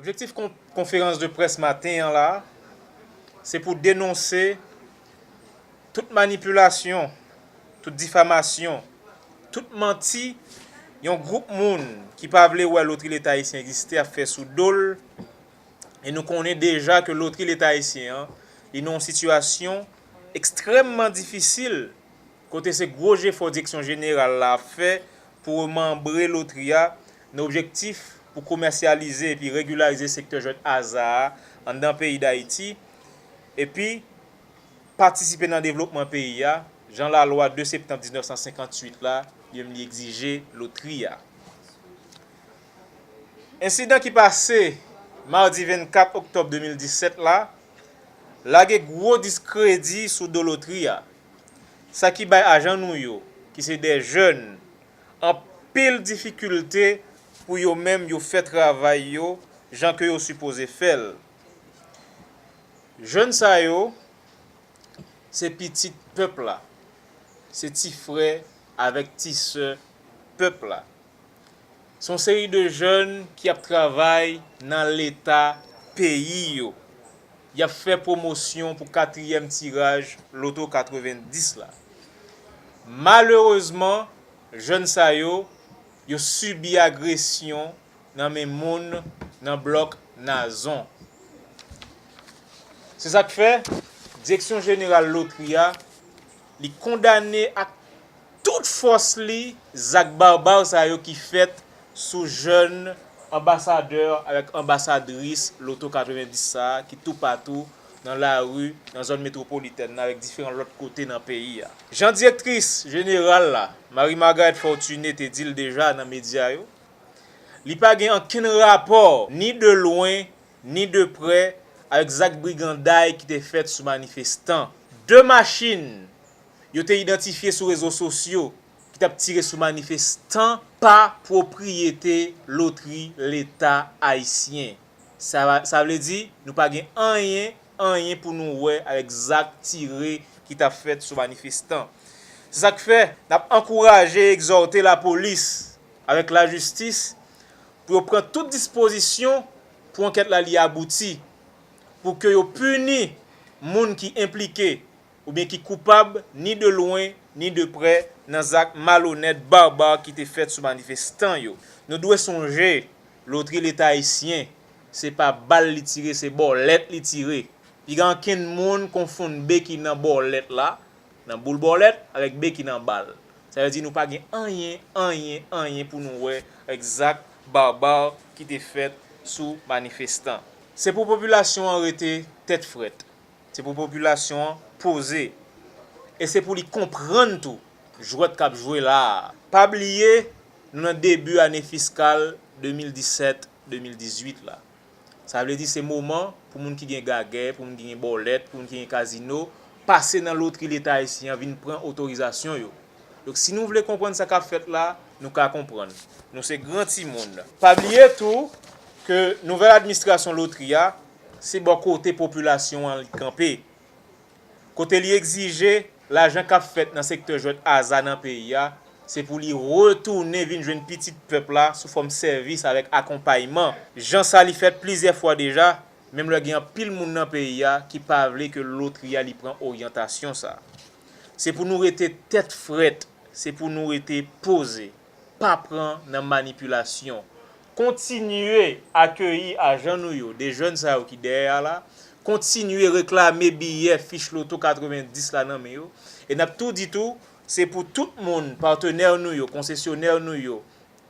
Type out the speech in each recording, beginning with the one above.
Objektif konferans de près maten an la, se pou denonse tout manipilasyon, tout difamasyon, tout manti yon gwoup moun ki pa vle wè lotri leta ayisyen egziste ap fè sou do l e nou konnen deja ke lotri leta ayisyen an li nan yon sitiyasyon ekstrèmman difisil kote se gwo jefò Direksyon Jeneral la ap fè pou remanbre lotri a nan objektif pou komèsyalize epi regilarize sektè jwèt aza a anndan peyi Dayiti epi patisipe nan devlopman peyi a jan lalwa 2 septanm 1958 la menm li egzije lotri a. Ensidan ki pase madi 24 oktòb 2017 la. lage gwo diskredi sou do lotri a, sa ki bay ajan nou yo, ki se de jèn, anpil difikilte pou yo menm yo fè travay yo jan ke yo sipoze fè l. Jèn sa yo, se pitit pèp la, se ti frè avèk ti sè pèp la. Son seri de jèn ki ap travay nan leta peyi yo. Y ap fè pwomosyon pou katriyèm tiraj loto 90 la. Malerezman, jèn sa yo, yo sibi agresyon nan men moun nan blòk Nazon. Se sa k fè, Direksyon jeneral lotri a Li kondane ak tout fòs li zak barbar sa yo ki fèt sou jèn anbasadè avèk anbasadris loto 90 sa a ki toupatou nan lari nan zòn metwopolitèn nan avèk diferan lòt kote nan peyi a. Jan direktris jeneral la, Marie Margaret Fortuné te di l deja nan medya yo, li pa gen ankenn rapò ni de lwen ni de prè avèk zak briganday ki te fèt sou manifestan. De machin yo te idantifye sou rezo sosyo ki t ap tire sou manifestan pa pwopriyete lotri leta ayisyen. Sa vle di nou pa gen anyen, anyen pou nou wè avèk zak tire ki t ap fèt sou manifestan. Se sa k fè n ap ankouraje, egzòte lapolis avèk lajistis pou yo pran tout dispozisyon pou ankèt la li abouti, pou ke yo pini moun ki enplike oubyen ki koupab ni de lwen ni de prè nan zak malonèt, barbar ki te fèt sou manifestan yo. Nou dwe sonje lotri leta ayisyen se pa bal li tire se bòlèt li tire. Piga ankenn moun konfonn be ki nan bòlèt la. Nan boul bòlèt avèk be ki nan bal. Sa vle di nou pa gen anyen, anyen, anyen pou nou wè avèk zak barbar ki te fèt sou manifestan. Se pou popilasyon an rete tèt frèt. Se pou popilasyon an poze. E se pou li konprann tou jwèt k ap jwe la a. Pa bliye nou nan debi ane fiskal 2017, 2018 la. Sa vle di se moman pou moun ki gen gagè, pou moun ki gen bòlèt, pou moun ki gen kazino, pase nan lotri leta ayisyen an vin pran otorizasyon yo. Donk si nou vle konprann sa k ap fèt la, nou ka konprann. Nou se gran timoun. Pa bliye tou ke nouvèl admistrasyon lotri a, se bò kote popilasyon an li kanpe. kote li egzije lajan k ap fèt nan sektè jwèt aza nan peyi a, se pou li retounen vin jwenn pitit pèp la sou fòm sèvis avèk akonpayman, jan sa li fèt plizyè fwa deja, menm lè gen anpil moun nan peyi a ki pa vle ke lotri a li pran oryantasyon sa. Se pou nou rete tèt frèt, se pou nou rete poze. pa pran nan manipilasyon. Kontinye akeyi ajan nou yo, de jèn sa yo ki dèyè a la, kontinye reklame biyè fich loto 90 la nan men yo, e n ap tou di tou, se pou tout moun, patenè nou yo, konsesyonè nou yo,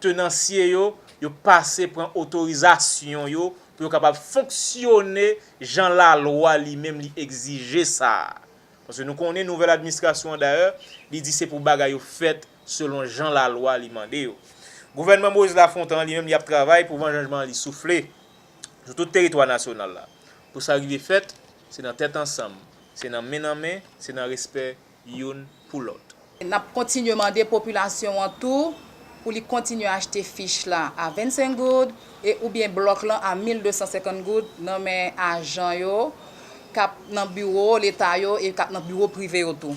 tenansye yo, yo pase pran otorizasyon yo pou yo kapab fonksyone jan lalwa li menm li egzije sa a. Paske nou konnen nouvèl administrasyon an dayè, li di se pou bagay yo fèt selon jan lalwa li mande yo. Gouvènman Moïse Lafontan an li menm li ap travay pou van janjman an li soufle sou tout teritwa nasyonal la. Pou sa rive fèt, se nan tèt ansanm, se nan men nan men, se nan respè youn pou lòt. N ap kontinye mande popilasyon an tou pou li kontinye achte fich la a 25 goud e oubyen blòk lan a 1250 goud nan men ajan yo k ap nan biwo leta yo e k ap nan biwo prive yo tou.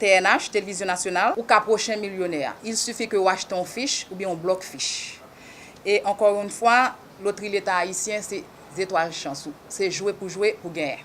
TNH, Televizyon Nasyonal, ou ka pwochen milyonè a. Il suffit ke ou achte yon fich oubyen yon blòk fich. E ankò yon fwa, lotri leta ayisyen se zetwal chans ou. Se jwe pou jwe pou genyen.